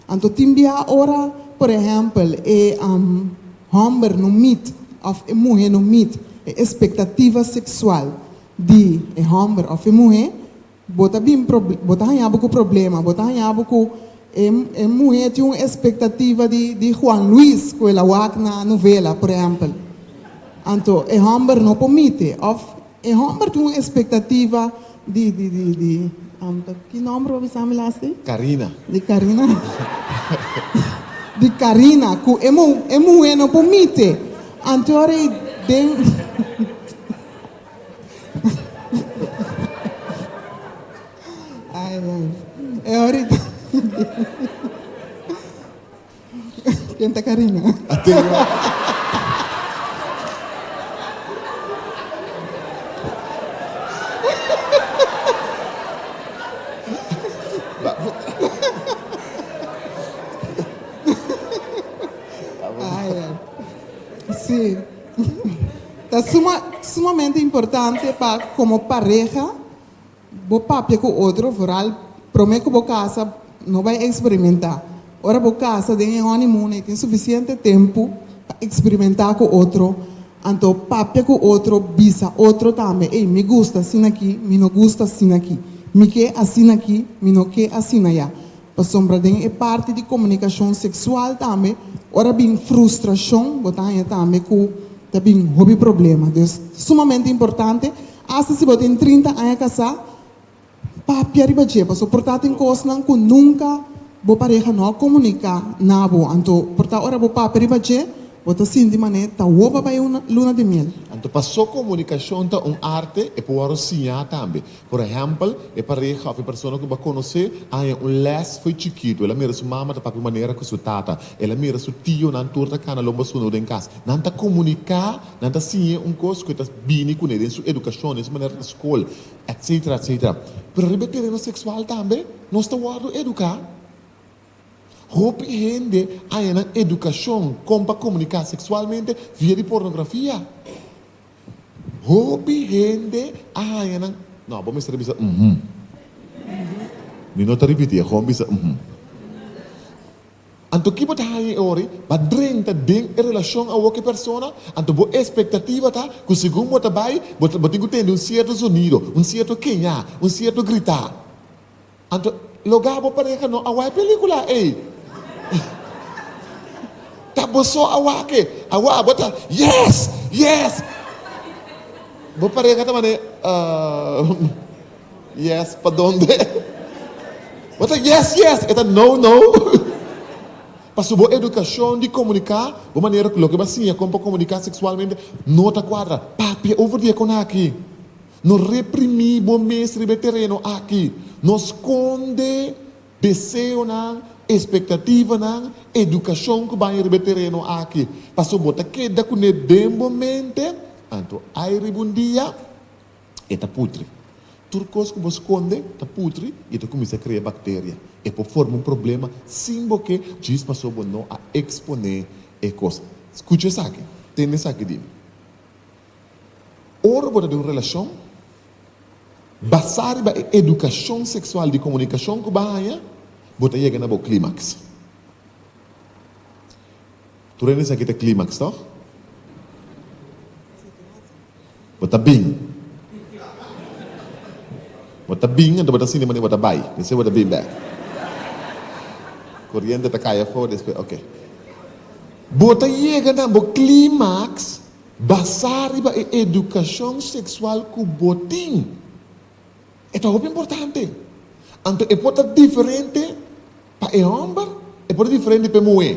S1: Anto tin bia ora, por ehèmpel, e hòmber no mit òf e muhé no mit e espektativa seksual di e hòmber òf e muhé, bo ta bin bo ta hañá bo ku problema, bo ta hañá bo ku e e muhé tin un espektativa di di Juan Luis ku el a wak na novela, por ehèmpel. Anto e hòmber no por mite òf E homber tin un espectativa di di di di ki nomber bo a bisa mi las di? Carina. Di Carina di Carina cu e e muhe no por mite antor e den ay ay e ora e den. Ken ta Karina? Si, ta sumamente importante pa komo pareha. Bo papia ku otro vooral promé ku bo kasa no bai eksperimentá. Ora bo kasa den e honeymoon e tin sufisiente tempu pa eksperimentá ku otro, anto papia ku otro, bisa otro tambe, ey mi gusta asin'aki, mi no gusta asin'aki, mi ke asin'aki, mi no ke asina ya. Pasobra den e parti di komunikashon seksual tambe, ora bin frustrashon, bo ta haña tambe ku ta bin hopi problema. Dus, ta sumamente importante, asta si bo tin trinta aña kasá, papia riba dje. Pasobra por ta tin kosnan ku nunka bo pareha no a komuniká na bo. Anto por ta ora bo papia riba dje, bo ta sinti manera ta wòrdu pa bai un luna di miel. Anto, pasó
S2: komunikashon ta un arte, e por wòrdu siñá tambe. Por ehèmpel, e pareha òf e persona ku bo a konosé a haña un lès fo'i chikitu. El a mira su mama ta papia un manera ku su tata. El a mira su tionan tur ta kana lomba sunda den kas. Nan ta komuniká, nan ta siñ'é un kos ku e ta bini kuné den su edukashon, den su manera ta skol, etsetera, etsetera. Pero riba e tereno seksual tambe nos ta wòrdu eduká. Hopi hende haña nan edukashon kon pa komuniká seksualmente via di pornografia. Hopi hende a haña nan. No, bo mester a bisa uhm. Mi no ta ripiti, a gewoon bisa uhm. Anto ki bo ta haña e ora ei? Bo a drenta den e relashon awor ku e persona, anto bo espektativa ta ku segun bo ta bai, bo tin ku tende un sierto zonido, un sierto keñá, un sierto gritá. Anto, lo ga bo pareha no a wai pelicula ey? Ta bo so a wake? Awa bo ta yes! Yes! Bo pareha ta mane, Umm, yes pa donde? Bo ta yes, yes! E ta no, no! Paso bo educacion di comunica, bo manera cu loke bo a siña con pa comunica sexualmente no ta cuadra. Papia over di e conaki. No reprimí bo mes riba e tereno aki. No skonde deseonan, espektativanan, edukashon ku baña riba e tereno aki. Pasobra bo ta keda ku ne den bo mente, anto ai riba un dia e ta putri. Tur kos ku bo skonde ta putri i e ta kuminsá krea bakteria. E por forma un problema sin bo ke djis pasobra bo no a eksponé e kos. Skucha esaki. Tende esaki di mi. Ora bo ta den un relashon, basá riba e edukashon seksual di komunikashon ku bo a haña, bo ta yega na bo klímaks. Tur hende sa ke ta klímaks, tòg? Bo ta bin. Bo ta bin, anto bo ta sinti manera bo ta bai. Despues bo ta bin bèk. Koriente ta kai afó, despues, oke. Bo ta yega na bo klímaks Basá riba e edukashon seksual ku bo tin, e ta hopi importante. Anto e por ta diferente pa e hòmber, e por ta diferente pa e muhé.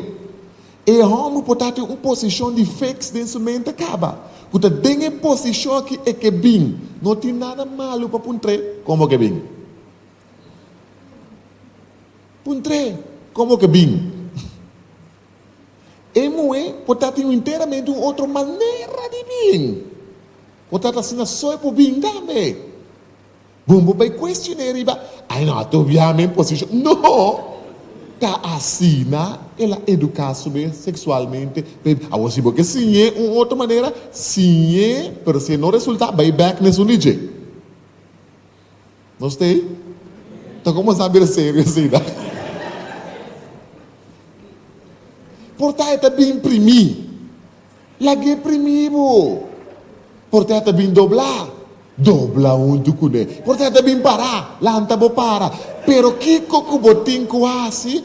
S2: E hòmber por ta den un posishon di fiks den su mente kaba ku ta den e posishon akí e ke bin. No tin nada malu pa puntr'é kon bo ke bin. Puntr'é kon bo ke bin. E muhé por ta tin enteramente un otro manera di bin. Por ta ta asina so e por bin tambe. Bon bo bai cuestion'é riba, ay no, atu bia mi posicion. No! Ta asina el a educa su be sexualmente. P'esei, awor si bo ke siñ'é un otro manera, siñ'é, pero si e no resulta, bai bek n'esun di dje. No stay? Ta comenzá bira serio asina. Por ta e ta bin primí. Lag'é primí bo. Por ta e ta bin doblá. Dobla huntu cu ne. Por ta e ta bin pará. Lanta bo para. Pero kico cu bo tin cu haci?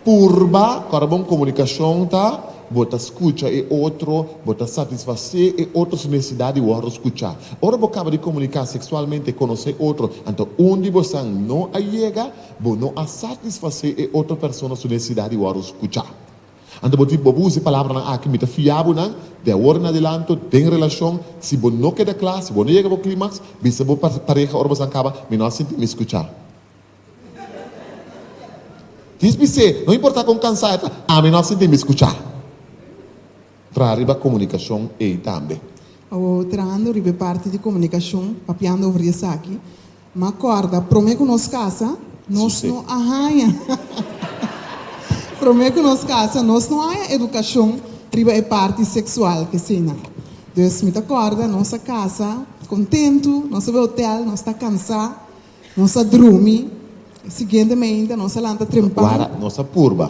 S2: Purba cu ora bon comunicacion ta, bo ta scucha e otro, bo ta satisface e otro su necesidad di wordo scucha. Ora bo caba di comunica sexualmente e conoce e otro, anto un di bosan no a yega, bo no a satisface e otro persona su necesidad di wordo scucha. Anto bo tin bobo usa e palabranan aki, Mi ta fia bo nan, di awor en adilanto, den relacion, si bo no keda cla, si bo no yega bo climax, bisa bo pareha ora bosan caba, Mi no a sinti mi scucha. Kies mi se, no importa kon kansá e ta, ami no a sinti mi skuchá. Traha riba komunikashon ei tambe. Awor, trahando
S1: riba e parti di komunikashon, papiando over di esaki, m'a kòrda promé ku nos kasa, nos no a haña promé ku nos kasa, nos no a haña edukashon riba e parti seksual ke asina. Dus mi ta kòrda nos a kasa kontentu, nos a bai otèl, nos ta kansá, Nos a drumi, siguiente meinta nos a lanta trempan. Wara, nos a purba.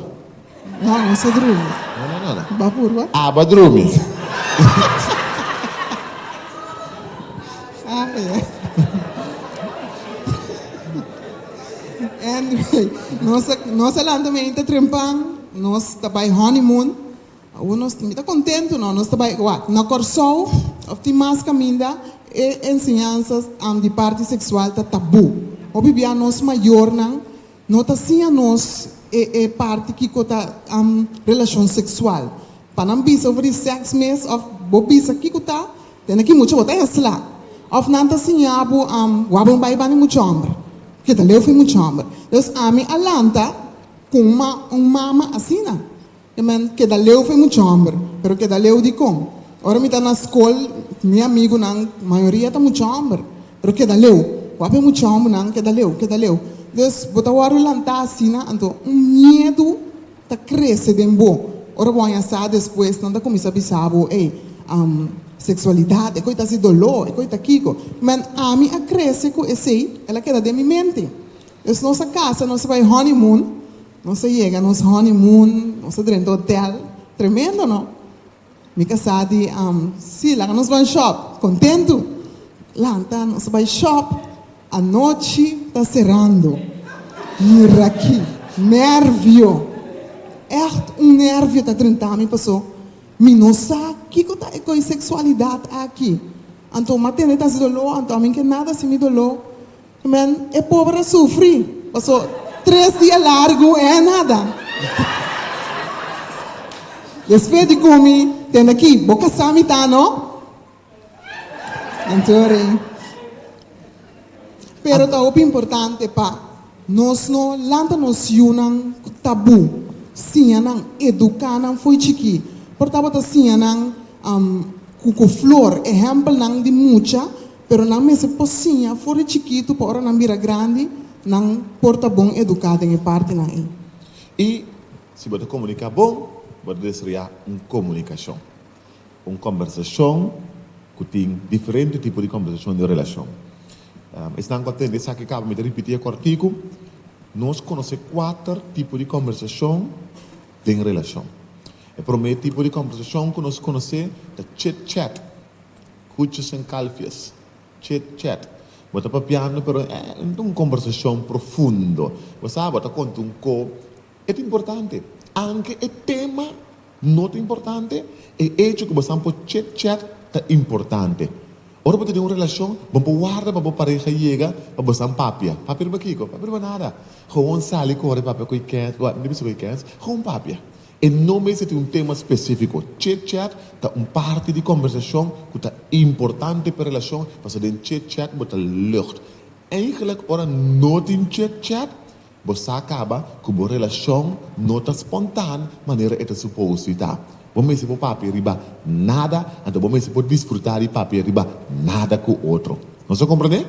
S2: No, nos
S1: a drumi. No, no, no, no. Ba
S2: purba? Aba
S1: drumi.
S2: Ay,
S1: ay. Anyway, nos a, nos a lanta meinta trempan, nos ta bai honeymoon. Awor nos tin ke ta kontentu no, nos ta bai wak na Kòrsou òf tin mas kaminda e enseñansas an di parti seksual ta tabú. Hopi bia nos mayornan no ta siña nos e e parti kiko ta am relashon seksual. Pa nan bisa over di sèks mes òf bo bisa kiko ta, den aki mucha bo ta ensla. Òf nan ta siña bo am wak bo no bai bani mucha hòmber, ke ta leu fu mucha hòmber. Entonces ami a lanta ku un un mama asina. E men keda leu fe mucha homber, pero keda leu di con? Ora mi ta na scol mi amigunan mayoria ta mucha homber, pero keda leu. Wap e mucha hombernan keda leu, keda leu. Des bo ta wordo lanta asina anto un miedu ta crece den bo. Ora bo haña sa despues nan ta cuminsa bisa bo, ey, am, sexualidad, e coi ta haci dolo, e coi ta kico. Men ami a crece cu esey, el a keda den mi mente. Des nos a casa, nos a bay honeymoon, Nos a yega nos honeymoon, nos a drenta hotel, tremendo no! Mi ka sa di Am, Si, laga nos ban shop! Kontentu! Lanta, nos a bai shop, anochi ta serando. Yira aki, nervio! Ècht un nervio ta drenta mi paso mi no sa kiko ta e koi seksualidat aki. Anto m'a tende ta hasi doló, anto a mi ke nada hasi mi doló. Men, e pober a sufri, paso tres dia largu e a nada. Despues di cumi, tende aki, bo casa mi ta, no? Don't worry. Pero ta hopi importante pa nos no lanta nos yunan cu tabu, siña nan, educa nan fo'i chiki. Por tabata siña nan cu, cu flor, ehempelnan di mucha Pero nan mester por siña for di chikitu pa ora nan bira grandi nan por ta bon eduká den e partinan ei. I
S2: si bo ta komuniká bon, bo ta desaroyá un komunikashon, un kòmbersashon ku tin diferente tipo di kòmbersashon di relashon. Esnan ku a tende esaki kaba mi ta ripití e kòrtiku, Nos konosé kuater tipo di kòmbersashon den relashon. E promé tipo di kòmbersashon ku nos konosé ta chit-chat. Kuchus en kalfies. Chit chat. Bo ta papiando pero e no ta un kombersashon profundo. Bo sa bo ta konta un ko e ta importante. Anke e tema no ta importante, e echo ku bo san por chit chat ta importante. Ora bo ta den un relashon, bo por warda pa bo pareha yega pa bo san papia. Papia riba kiko? Papia riba nada. Gewoon sali kore papia ku e kens, bo a bisa ku e kens, gewoon papia. E no mester tin un tema spesífiko. Chit-chat ta un parti di kòmbersashon ku ta importante p'e relashon pasobra den chit-chat bo ta lùcht. Eigentlik ora no tin chit-chat, bo sa kaba ku bo relashon no ta spontan manera e ta supos di ta. Bo mester por papia riba nada, anto bo mester por disfrutá di papia riba nada ku otro. Nos a komprendé?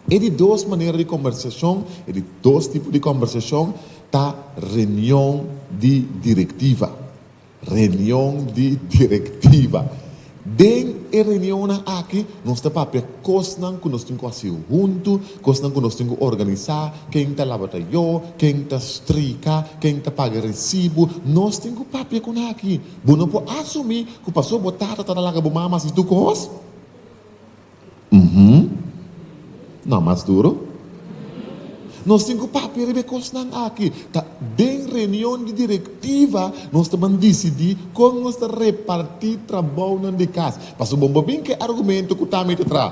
S2: E di dos manera di kòmbersashon, e di dos tipo di kòmbersashon. Ta reunion di directiva. Reunion di directiva. Den e reunionnan aki nos ta papia cosnan cu nos tin cu haci hunto, cosnan cu nos tin cu organiza, ken ta laba tayo, ken ta strica, ken ta paga recibo, nos tin cu papia cu nan aki. Bo no por asumi cu pasobra bo tata ta laga bo mama haci tur cos. Uhum. Nan mas duro? Nos tin ku papia riba e kosnan aki. Ta den reunion di direktiva nos ta ban disidí kon nos ta repartí trabounan di kas. Pasobra bo no por bin ku e argumento ku Tammy ta traha.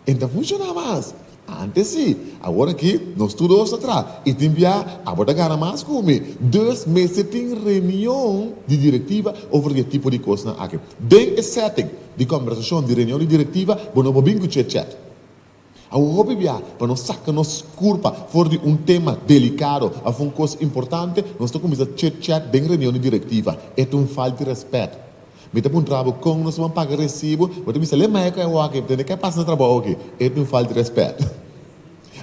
S2: E no ta funshoná mas. Antes si, awor aki nos tur dos ta traha y tin bia abo ta gana mas cu mi. Dus mester tin reunion di directiva over di e tipo di cosnan aki. Den e setting di conversacion di reunion di directiva bo no bo bin cu chit chat. Awor hopi bia pa nos saca nos curpa for di un tema delicado of un cos importante nos ta cuminsa chit chat den reunion di directiva. E ta un falta di respet. Mi ta puntra bo kon nos taban paga resibo, bo ta bisa, Lemae ku e awo aki, dónde ke pasa na trabou aki? E ta un falta di rèspèt.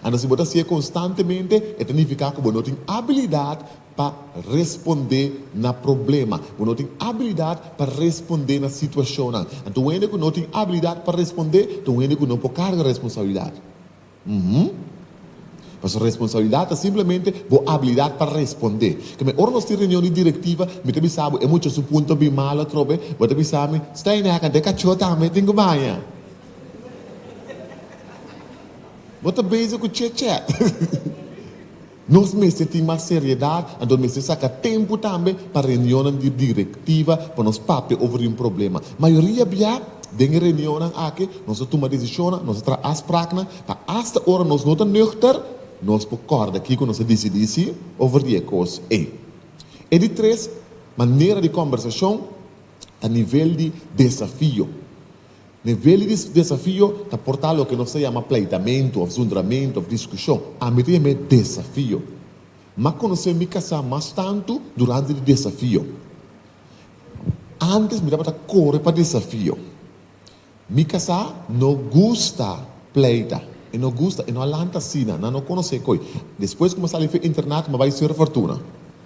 S2: Anto si bo ta hasié konstantemente, e ta nifiká ku bo no tin abilidat pa respondé na problema, bo no tin abilidat pa respondé na situashonnan. Anto un hende ku no tin abilidat pa respondé ta un hende ku no por karga responsabilidat. Uhum. Pasobra responsabilidat ta simplemente bo abilidat pa respondé. Keme, ora nos tin reunion di direktiva, mi ta bisa bo, e mucha su punto bin mal atrobe, bo ta bisa mi, Steineck, ante e kachó tambe tin ku baña. Bo ta bezig ku chèchèt. Nos mester tin mas seriedat, anto mester saka tempu tambe pa reunionnan di direktiva pa nos papia over un problema. Mayoria bia, den e reunionnan aki nos a tuma desishonnan, nos a traha afspraknan, pa asta ora nos no ta nuchter, nos por kòrda kiko nos a disidí sí over di e kos ei. E di tres manera di kòmbersashon ta nivel di desafio. Nivel di desafio ta por ta loke nos ta yama pleitamentu òf zundramentu òf diskushon. Ami ta yama e desafio. Mi a konosé mi kasá mas tantu durante di desafio. Ántes mi tabata kore pa desafio. Mi kasá no gusta pleita. E no gusta, e no a lanta asina. Nan no konosé ko'i. Despues ku mi a sali fu internat mi a bai Sir Fortuna.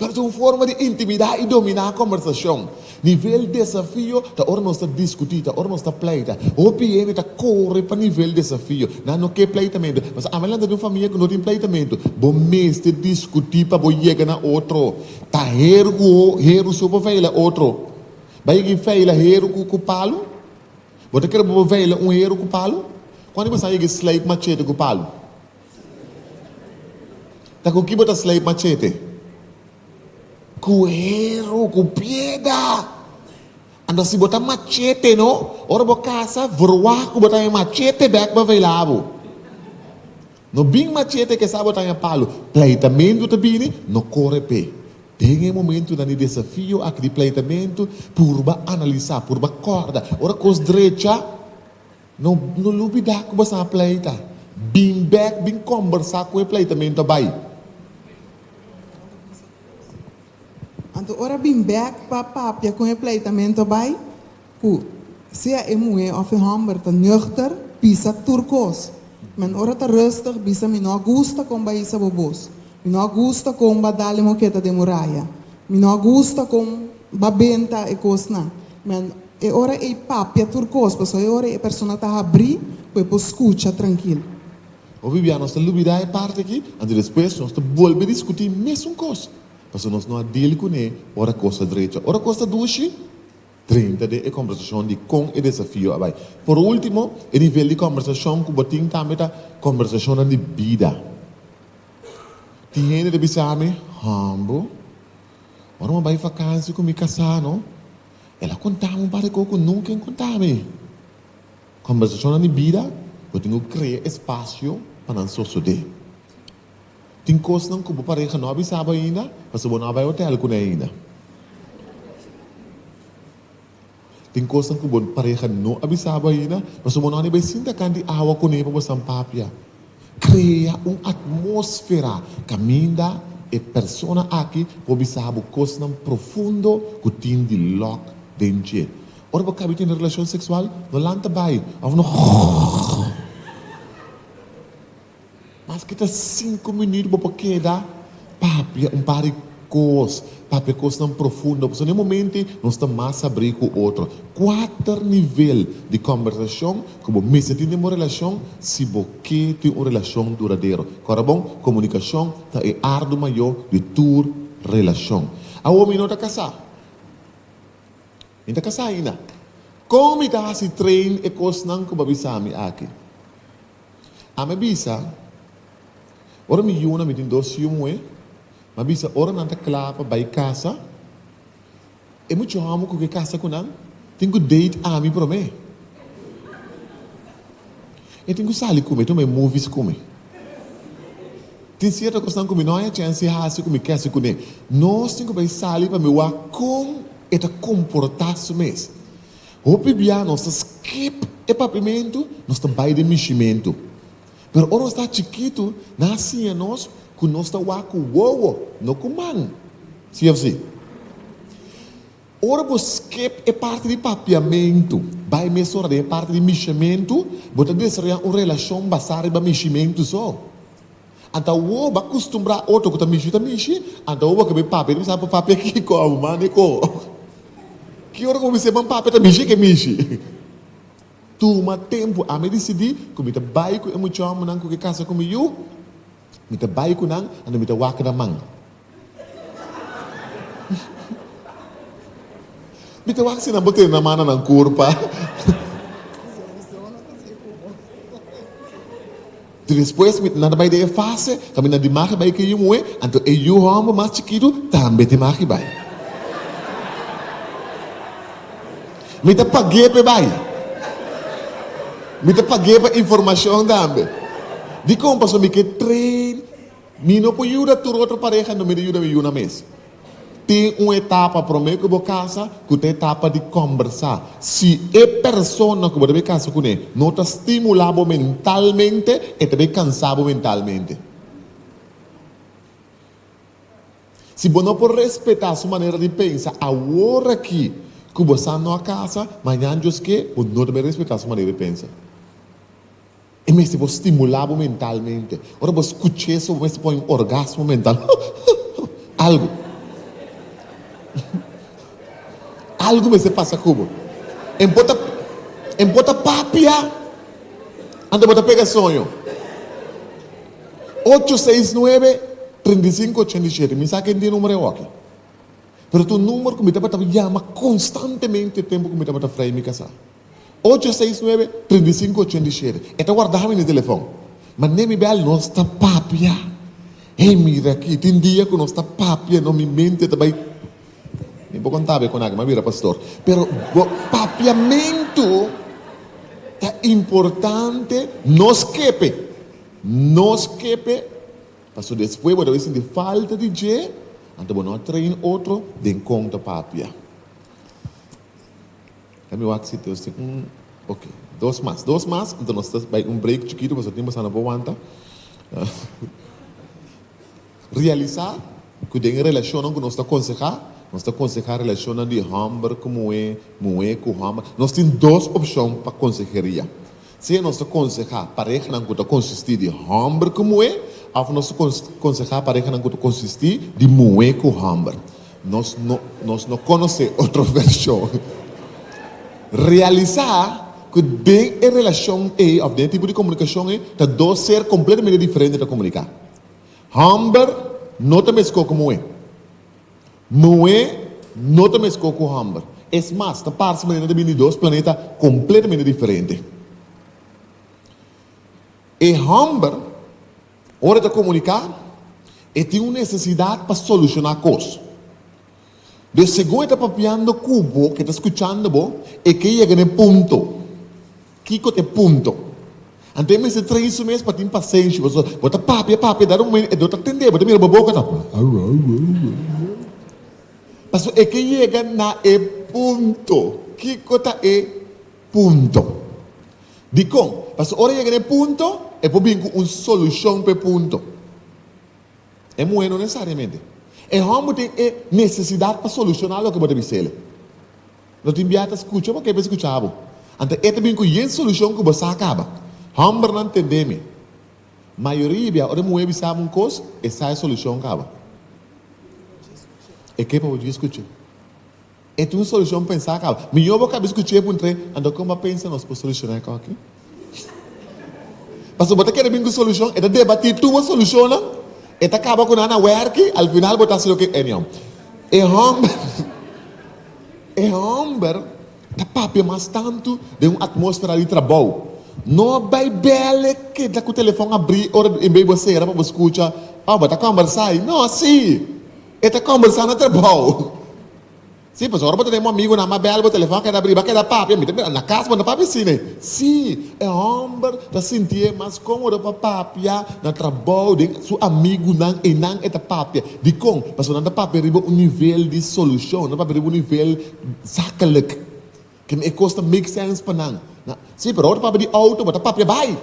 S2: pero ta un forma di intimidá i dominá kòmbersashon. Nivel desafio ta ora nos ta diskutí, ta ora nos ta pleita. Hopi hende ta kore pa nivel desafio, nan no ke pleitamentu. Mas ami a lanta di un famia ku no tin pleitamentu. Bo mester diskutí pa bo yega na otro. Ta heru ku heru so por veila otro. Bai yega i veila heru ku palu? Bo ta kere bo por veila un heru ku palu? Kuantu i masha yega i slai ku machete ku palu? Ta ku ki bo ta sleip machete? Ku heru, ku pieda. Anto si bo ta machete no, ora bo kasa, vroa ku bo ta haña machete bèk pa veilá bo. No bin machete kesa bo ta haña palu. Pleitamentu ta bini, no kore p'e. Den e momentunan di desafio aki di pleitamentu, purba analisá, purba kòrda. Ora kos drecha. No no lubidá ku bo sa pleita. Bin bèk bin kombersá ku e pleitamentu a bai.
S1: Anto ora bin bèk pa papia ku e pleitamentu a bai, ku sea e muhé òf e hòmber ta nùchter, bisa tur kos. Men ora ta rùstig bisa, Mi no a gusta kon bo a hisa bo bos. Mi no a gusta kon bo a dal e moketa den muraya. Mi no a gusta kon bo a benta e kosnan. Men. E ora ei papia tur kos, pasobra e ora ei e persona ta habrí ku e por skucha trankil. Hopi
S2: bia nos ta lubidá e parti akí, anto despues nos ta bolbe diskutí mesun kos, pasobra nos no a deal kuné ora kos ta drecha. Ora kos ta dushi, drenta den e kòmbersashon di kon e desafio a bai. Por último, e nivel di kòmbersashon ku bo tin tambe ta kòmbersashonnan di bida. Tin hende ta bisa mi, Humble, ora mi a bai fakansia ku mi kasá no? El a kontáme un par di kos ku nunka en kontáme. Kòmbersashonnan di bida bo tin ku krea espasio pa nan sosodé. Tin kosnan ku bo pareha no a bisa bo ainda pasobra bo no a bai otèl kuné ainda. Tin kosnan ku bo pareha no a bisa bo ainda pasobra bo no a ni bai sinta kant di awa kuné pa bo san papia. Krea un atmósfera kaminda e persona aki por bisa bo kosnan profundo ku tin di lòk den dje. Ora bo kabi tene relashon seksual, no lanta bai òf no maske ta sinku minüt bo por keda Papia un par di kos, papia kosnan profundo, pasobra na e momente nos ta mas sabrí ku otro. Kuater nivel di kòmbersashon ku bo mester tin den bo relashon si bo ke tin un relashon duradero. Kòrda bon, komunikashon ta e ardu mayó di tur relashon. Awo mi no ta kasá. Mi no ta kasá ainda. Kon mi ta hasi train e kosnan ku bo a bisami aki? Ami a bisa. Ora mi yuna mi tin dos yu muhé, m'a bisa ora nan ta kla pa bai kasa, e muchu hòmber ku ke kasa ku nan tin ku date ami promé. E tin ku sali ku mi, e tuma e movies ku mi. Tin sierto kosnan ku mi no haña chèns di hasi ku mi kèse kuné. Nos tin ku bai sali pa mi wak kon e ta komportá su mes. Hopi biaha nos ta skip e papimentu, nos ta bai den mishimentu. Pero ora nos ta chikitu, nan a siña nos ku nos ta wak ku wowo, no ku man. Sí òf sí? Ora bo skip e parti di papiamentu, bai mes ora den e parti di mishiamentu, bo ta desaroyá un relashon basá riba mishimentu so. Anta wowo bo a kustumbrá otro ku ta mishi ta mishi, anta wowo a keb'é papia i no sabi pa papia kiko a bo manda i ko. Ki ora ku bo mester man papia ta mishi ke mishi. Tuma tempu. Ami a disidí ku mi ta bai ku e mucha òmbernan ku ke kasa ku mi yu. Mi ta bai ku nan, anto mi ta wak nan man. Mi ta wak si nan por tene nan mano nan kurpa. Despues mi nada bai den e fase, so mi na di mari bai ku e yu muhé, anto e yu hòmber mas chikitu tambe tin mari bai. Mi ta pag'é p'e bai. Mi ta pag'é pa informashon tambe. Dikon pasobra mi ke train? Mi no por yuda tur otro pareha, anto mi ta yuda mi yunan mes. Tin un etapa promé ku bo kasa ku ta etapa di kòmbersá. Si e persona ku bo ta bai kasa kuné no ta stimulá bo mentalmente, e ta bai kansá bo mentalmente. Si bo no por respetá su manera di pensa awor aki ku bo sa no a kasa, mañan djoskee bo no ta bai respetá su manera di pensa. E mester bo stimulá bo mentalmente. Ora bo skucha eso bo mester pone un orgasmo mental, huhuhuhu, algu. Algu mester pasa ku bo. En por ta en por ta papia ante bo ta pega soño. Ocho seis nuebe treinta i sinku ochenta i shete mi sa ken tin numero awor aki. Pero ta un numero ku mi tabata yama konstantemente tempu ku mi tabata frei mi kasá. Ocho seis nuebe trinta i sinku ochenta i shete E ta warda hami na e telefon Ma nen mi bèl nos ta papia Hey mira aki tin dia ku nos ta papia no mi mente ta bai Mi por konta be konake mi a bira pastor Pero bo papiamentu ta importante Nos kepe Nos kepe Paso despues bo ta bai sinti falta di dje Anto bo no a train otro den kon ta papia. Dame wak si Dios tin un ok dos mas dos mas enton nos ta bay un break chikito pasobra tin bosa no por wanta realisa cu den e relacionnan cu nos ta conseha nos ta conseha relacionnan di homber cu muhe muhe cu homber nos tin dos opcion pa conseheria Si e nos ta konsehá parehnan ku ta konsistí di hòmber ku muhé òf nos ta konsehá parehnan ku ta konsistí di muhé ku hòmber, nos no nos no konosé otro vershon. Realisá ku den e relashon ei òf den e tipo di komunikashon ei ta dos ser kompletamente diferente ta komuniká. Hòmber no ta meskó ku muhé. Noe no ta mescó cu homber. Es mas, ta parse como nan ta bini di dos planeta completamente diferente. E homber, ora e ta comunicá, e tin un necesidad pa solucioná cos. Dor segun e ta papiando cu bo, cu e ta scuchando bo, e ke yega na e punto. Kiko ta e punto? Anto e mester trahi su mes pa tin pasenshi? Pasobra bo ta papia, papia, dado momento e dor ta tende, bo ta mira bo boca ta pasobra e ke yega na e punto. Kiko ta e punto? Dikon? Pasobra ora e yega na e punto e por bin cu un solucion pa e punto. E muhe no necesariamente. E homber tin e necesidad pa soluciona loke bo ta bisele. Lo tin bia ta scucha bo ke be scucha abo. Ante e ta bin cu yen solucion cu bo sa caba. Hombernan tende mi. Mayoria bia ora e muhe bisa abo un cos, e sa e solucion caba. E ke pa bo dje scucha. E tin un solucion pensa caba. Mijo bo caba scucha e puntra e, Ante con bo a pensa nos por soluciona e coke? Pasobra bo ta kere bin ku solushon, e ta debatí tur bo solushonnan, e ta kaba ku nan a wèrki, al final bo ta hasi loke anyhow. E hòmber e hòmber ta papia mas tantu den un atmósfera di trabou. No bai bèl e keda ku telefòn abrí ora di enbei bo sera pa bo skucha, Oh, bo ta kòmbersá ei? No, sí! E ta kòmbersá na trabou. Sí, pues ora bo ta den bo amigunan, m'a bèl bo, telefòn a keda abrí, b'a keda papia. Mi ta mira, na kas bo no ta papia asina. Sí, e hòmber ta sinti e mas kómodo pa papia na trabou den su amigunan, einan e ta papia. Dikon? Pasobra nan ta papia riba un nivel di solushon, nan ta papia riba un nivel zakelik, kende e kos ta make sense pa nan. Sí, pero ora bo ta papia di outo, bo ta papia bai.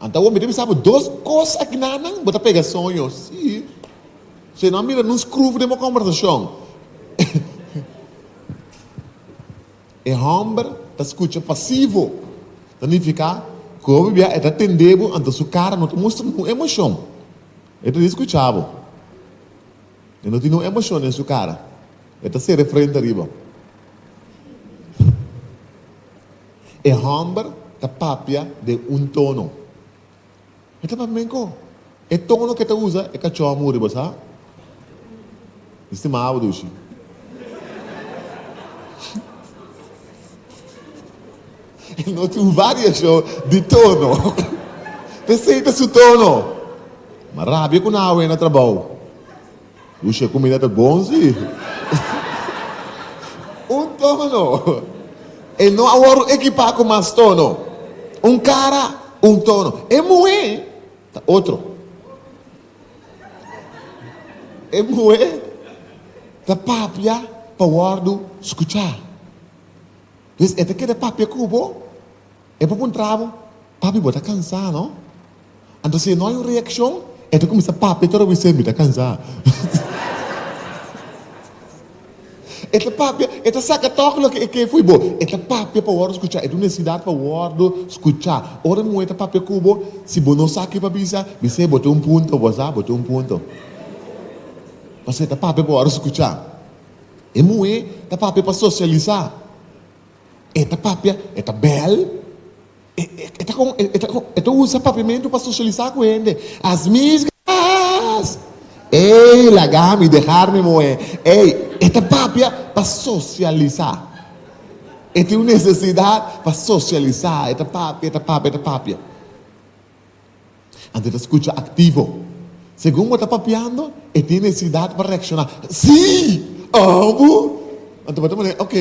S2: Anta awor mi ta bisa bo dos cos akinanan, bo ta pega soño, si, si no a mira nun scruf den bo conversacion. E homber ta scucha pasivo, ta nifica cu bo bibia e ta tende bo, anta su cara no ta mustra nun emocion, e ta di scucha bo. E no tin nun emocion den su cara, e ta sere frente ariba. E hòmber ta papia den un tono. E ta papia benko. E tono k'e ta usa e kachòha muri bo sa? Mi stima abo dushi. E no tin un variashon di tono. P'esei ta su tono. Ma rabia ku nan awe na trabou. Ush e kumida ta bon si. Un tono. E no a wòrdu ekipá ku mas tono. Un kara, un tono. E muhé ta otro. E muhé ta papia pa wòrdu skuchá. Pues e ta keda papia ku bo. E por puntra bo, Papi, bo ta cansá, no? Anto si e no hay un reaccion, e ta cuminsá papia tur awis'é, Mi ta cansá. E ta papia, e ta saca toque loke e ke fo'i bo. E ta papia pa wordo scuchá, e ta un necesidad pa wordo scuchá. Ora un muhé ta papia cu bo, si bo no sa ke pa bisa, bis'é, Bo tin un punto, bo sa, bo tin un punto. Pasobra e ta papia pa wordo scuchá. E muhé ta papia pa socialisá. E ta papia, e ta bel, e ta con e ta usa papiamentu pa socialisa cu hende. As misgas! Ey, lagami, deharmi moe. Ey, e ta papia pa socialisa. E tin un necesidad pa socialisa. E ta papia, e ta papia, e ta papia. Ante ta scucha activo. Segun bo ta papiando, e tin necesidad pa reacciona, Sí! Abo? Ante bo ta manera, Ok,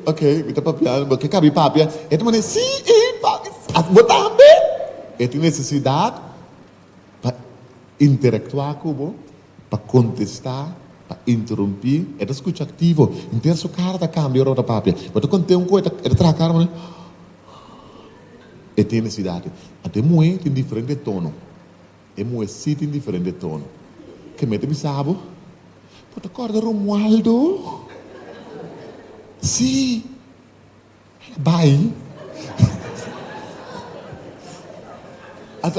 S2: ok, mi ta papiando, bo ke cabi papia. E ta manera, Sí! E papi, asina bo tambe? E tin necesidad pa interactua cu bo, pa contesta, pa interrumpi. E ta scucha activo. Entera su cara ta cambia ora bo ta papia. Bo ta conta un cu e ta traha cara manera, E tin necesidad aki. Ante e muhe tin diferente tono. E muhe si tin diferente tono. Ke mi ta bisa bo? Bo ta corda Romualdo? Si! Hala bay.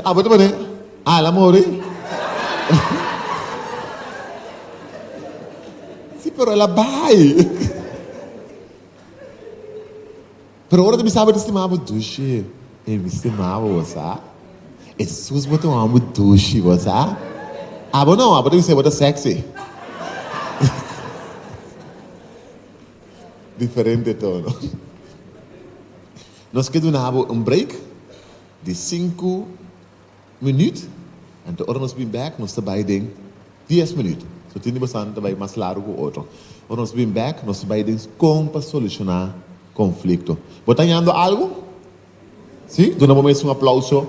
S2: Abo ta mane, Hala more? Si pero hala bay. Pero ora ta bisa bo ta stima bo dushi, e mi stima bo, bo sa. E sus bo ta wòm bo dushi, bo sa. Abo no, abo ta bisa bo ta sexy. Diferente tono. Nos ke duna bo un break di sinku Minuut, anto ora nos bin bek nos ta bai den dies minuut, so tin di bosanan ta bai mas largo ku otro. Ora nos bin bek nos bai den kon pa solushoná konflikto. Bo ta hañando algu? Sí? Duna bo mes un aplauso.